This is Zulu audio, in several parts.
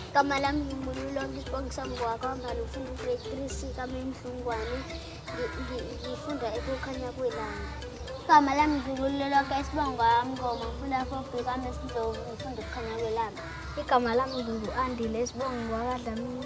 Igama lami ngimbululo ngisibonga sami kwakwamba ngifunda ugrade three c kamendlungwane ngifunda ekukhanya kwelanga igama lami ngibululo lonke isibongo kwami ngoma ngifunda fobi kami esindlovu ngifunda ukukhanya kwelanga igama lami ngingu-andile isibongo kwakadlamini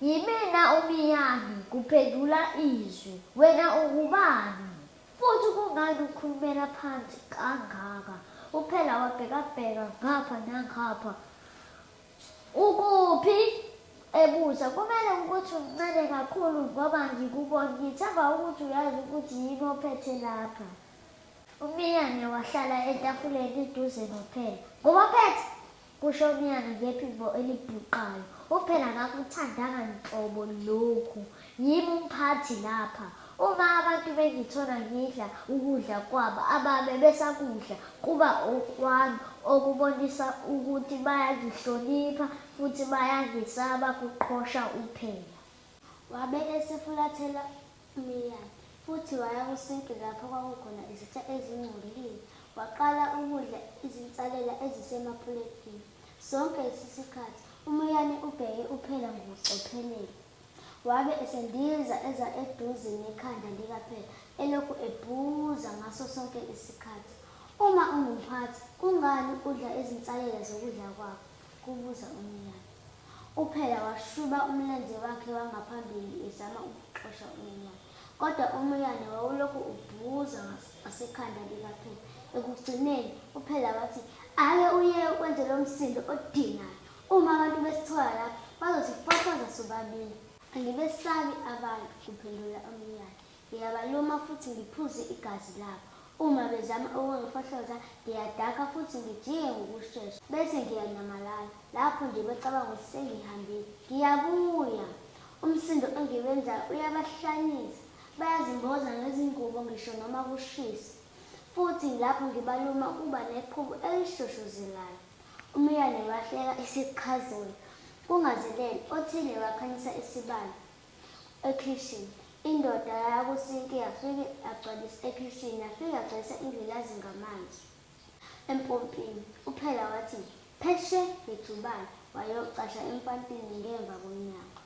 Yimina uMiyami, kuphendula izwi. Wena ungubani? Futhi kungani ukhulumela phansi kangaka? UPhela wabhekabheka ngapha nangapha. Ukuphi? ebuza. Kumele ukuthi umncane kakhulu ngoba ngikubona. Ngithemba ukuthi uyazi ukuthi yini ophethe lapha. UMiyane wahlala etafuleni eduze noPhela. Ngubophethe? Kusho uNyanda ngephimbo elibhuqayo. UPhela akakuthandanga nhlobo lokhu. Yimi umphathi lapha. Uma abantu bengithola ngidla ukudla kwabo ababe besakudla kuba okwami okubonisa ukuthi bayangihlonipha futhi bayangesaba, kuqhosha uPhela. Wabe esefulathela Miyane. Futhi waya kusinki lapho kwakukhona izitsha ezingcolile, waqala ukudla izinsalela ezisemapuletini. Sonke lesisikhathi, uMiyane ubheke uPhela ngokucophelela. Wabe esendiza eza eduze nekhanda likaPhela, elokhu ebuza ngaso sonke isikhathi, Uma ungumphathi, kungani udla izinsalela zokudla kwakho? kubuza uMiyane. UPhela washuba umlenze wakhe wangaphambili ezama ukuxosha uMiyane, kodwa uMiyane wawulokhu ubhuza ngasekhanda likaPhela. Ekugcineni, uPhela wathi, Ake uyeke ukwenza lo msindo odinayo. Uma abantu besithola lapha, bazosifafaza sobabili. Angibesabi abantu, kuphendula uMiyane. Ngiyabaluma futhi ngiphuze igazi labo. Uma bezama ukungifohloza, ngiyadakha futhi ngijike ngokushesha, bese ngiyanyamalala. Lapho nje becabanga ukuthi sengihambile, ngiyabuya! Umsindo engiwenzayo uyabahlanyisa. Bayazimboza ngezingubo ngisho noma kushisa. Futhi lapho ngibaluma kuba neqhubu elishoshozelayo. UMiyane wahleka isiqhazula. Kungazelele, othile wakhanyisa isibani. ekhishini. Indoda yaya kusinki yafike yagcwalisa ekhishini yafike yagcwalisa ingilazi ngamanzi empompini. UPhela wathi pheshe ngejubane wayocasha empantini ngemva komnyango.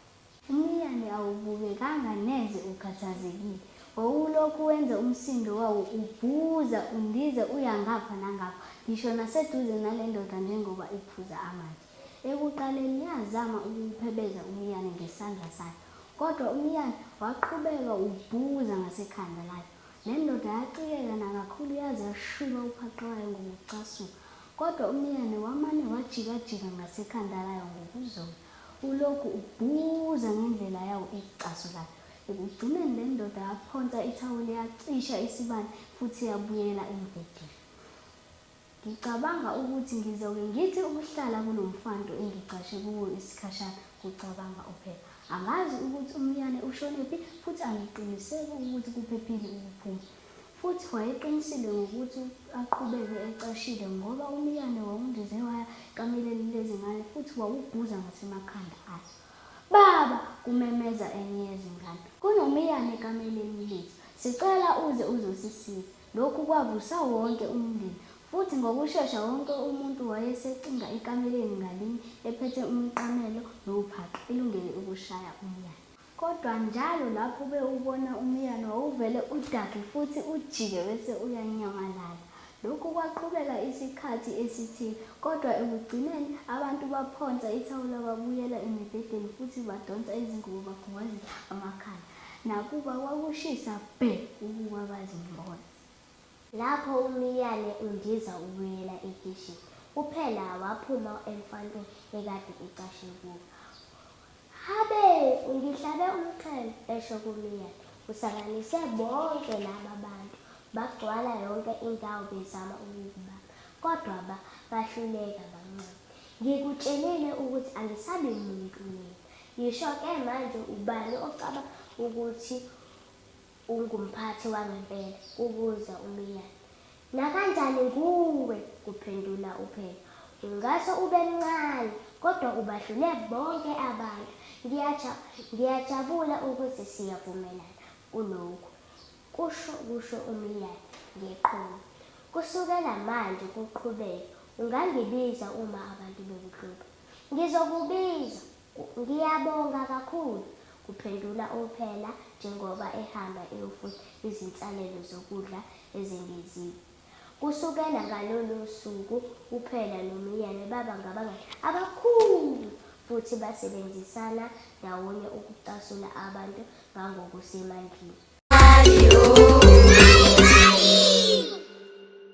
Umiyane awubukekanga neze ukhathazekile. Wawulokhu wenza umsindo wawo ubhuza undiza uya ngapha nangapha ngisho naseduze nale ndoda njengoba iphuza amanzi. Ekuqaleni yazama ukuwuphebeza umiyane ngesandla sayo, kodwa umiyane waqhubeka ubhukuza ngasekhanda layo. Le ndoda yacikeka nakakhulu yaze yashuba uphaqe wayo ngokucasuka, kodwa umiyane wamane wajikajika ngasekhanda layo ngokuzola, ulokhu ubhukuza ngendlela yawo ecasulayo. Ekugcineni le ndoda yaphonsa ithawula yacisha isibani futhi yabuyela embhedeni. Ngicabanga ukuthi ngizoke ngithi ukuhlala kulo mfantu engigcashe kuwo isikhashana, kucabanga uPhepha. Angazi ukuthi uMiyane ushonephi futhi angiqiniseki ukuthi kuphephile ukuphuma. Futhi wayeqinisile ngokuthi aqhubeke ecashile ngoba uMiyane wawundize waya ekameleni lezingane futhi wawubhuza ngasemakhanda azo. Baba! kumemeza enye yezingane. Kunomiyane ekameleni lethu. Sicela uze uzosisiza. Lokhu kwavusa wonke umndeni, futhi ngokushesha wonke umuntu wayesecinga ekameleni ngalinye ephethe umqamelo nowuphaqa, elungele ukushaya umyane. Kodwa njalo lapho bewubona umyane, wawuvele udakwe futhi ujike bese uyanyamalala. Lokhu kwaqhubeka isikhathi esithile, kodwa ekugcineni abantu baphonsa ithawula babuyela emibhedeni futhi badonsa izingubo bakhungwazisa amakhanda. Nakuba kwakushisa bhe ukuba bazimbone. Lapho uMiyane undiza ubuyela ekishini, uPhela waphuma emfantwini ekade ecashe kuwo. Habe! Ungihlabe umxhwele! esho kuMiyane. Usanganise bonke laba bantu. Bagcwala yonke indawo bezama ukukubamba, kodwa ba, bahluleka, bancama. Ngikutshelile ukuthi angisabi muntu mina. Ngisho ke manje ubani ocabanga ukuthi ungumphathi wangempela? kubuza uMiyane. Nakanjani nguwe, kuphendula uPhela. Ungase ube mncane, kodwa ubadlule bonke abantu. Ngiyaja, ngiyajabula ukuthi siyavumelana kulokhu, kusho, kusho uMiyane ngeqhuma. Kusukela manje kuqhubeke, ungangibiza uma abantu bekuhlupha. Ngizokubiza. Ngiyabonga kakhulu, kuphendula uMphela njengoba ehamba eyofuna izinsalelo zokudla ezengeziwe. Kusukela ngalolo suku uPhela noMiyane baba ngabangani abakhulu futhi basebenzisana ndawonye ukucasula abantu ngangokusemandleni.